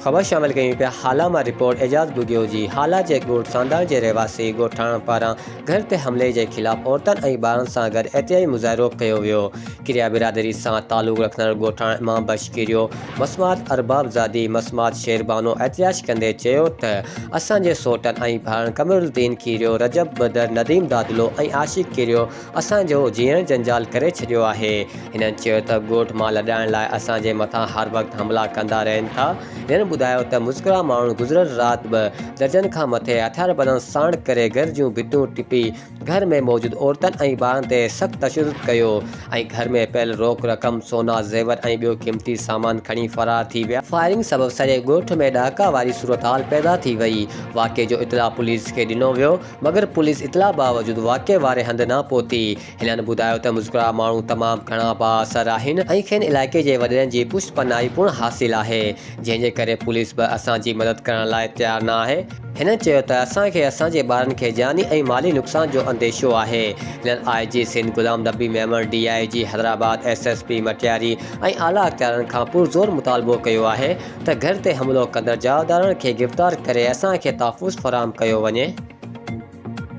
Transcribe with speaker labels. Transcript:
Speaker 1: خبر
Speaker 2: شامل ڪيون پيا هالا مان رپورٽ اعجاز ٻگهيو جي هالا جي ڳوٺ سانداڻ جي رهواسي ڳوٺاڻن پاران گهر تي حملي جي خلاف عورتن ۽ ٻارن سان گڏ احتجاجي مظاهرو ڪيو ويو ڪريا برادري سان تعلق رکندڙ ڳوٺاڻن امام بخش ڪريو مسمات ارباب زادي مسمات شير بانو احتجاج ڪندي چيو ته اسان جي سوٽن ۽ ڀائرن قمرالدين ڪريو رجب بدر نديم دادلو ۽ عاشق ڪريو اسان جو جيئڻ جنجال ڪري ڇڏيو آهي. هنن چيو ته ڳوٺ مان لڏائڻ لاء اسان جي مٿان هر وقت حملا ڪندا رهن ٿا. هنن ٻڌايو ته مذڪوره ماڻهن گذريل رات به درجن کان مٿي هٿياربندن ساڻ ڪري گهر جون ڀتيون ٽپي گهر ۾ موجود عورتن ۽ ٻارن تي سخت تشدد ڪيو ۽ گهر ۾ پيل روڪ رقم، سونا، زيور ۽ ٻيو قيمتي سامان کڻي فرار ٿي ويا. فائرنگ سبب سڄي ڳوٺ ۾ ڏهاڪا واري صورتحال پيدا ٿي وئي. واقعي جو اطلاع پوليس کي ڏنو ويو. مگر پوليس اطلاع باوجود واقعي واري هنڌ نه پهتي. هنن ٻڌايو ته مذڪوره ماڻهو تمام گهڻا بااثر آهن ۽ کين علائقي جي وڏيرن جي پشت پناهي پڻ حاصل آهي، جنهن جي ڪري پوليس به اسان جي مدد ڪرڻ لاء تيار نه آهي. هنن چيو ته اسان کي اسان جي ٻارن کي جاني ۽ مالي نقصان جو انديشو آهي. هنن I G Sindh Ghulam Nabi Memon, D I G Hyderabad, S S P Matiari ۽ اعليٰ اختيارن کان پرزور مطالبو ڪيو آهي ته گهر تي حملو ڪندڙ جايودارن کي گرفتار ڪري اسان کي تحفظ فراهم ڪيو وڃي.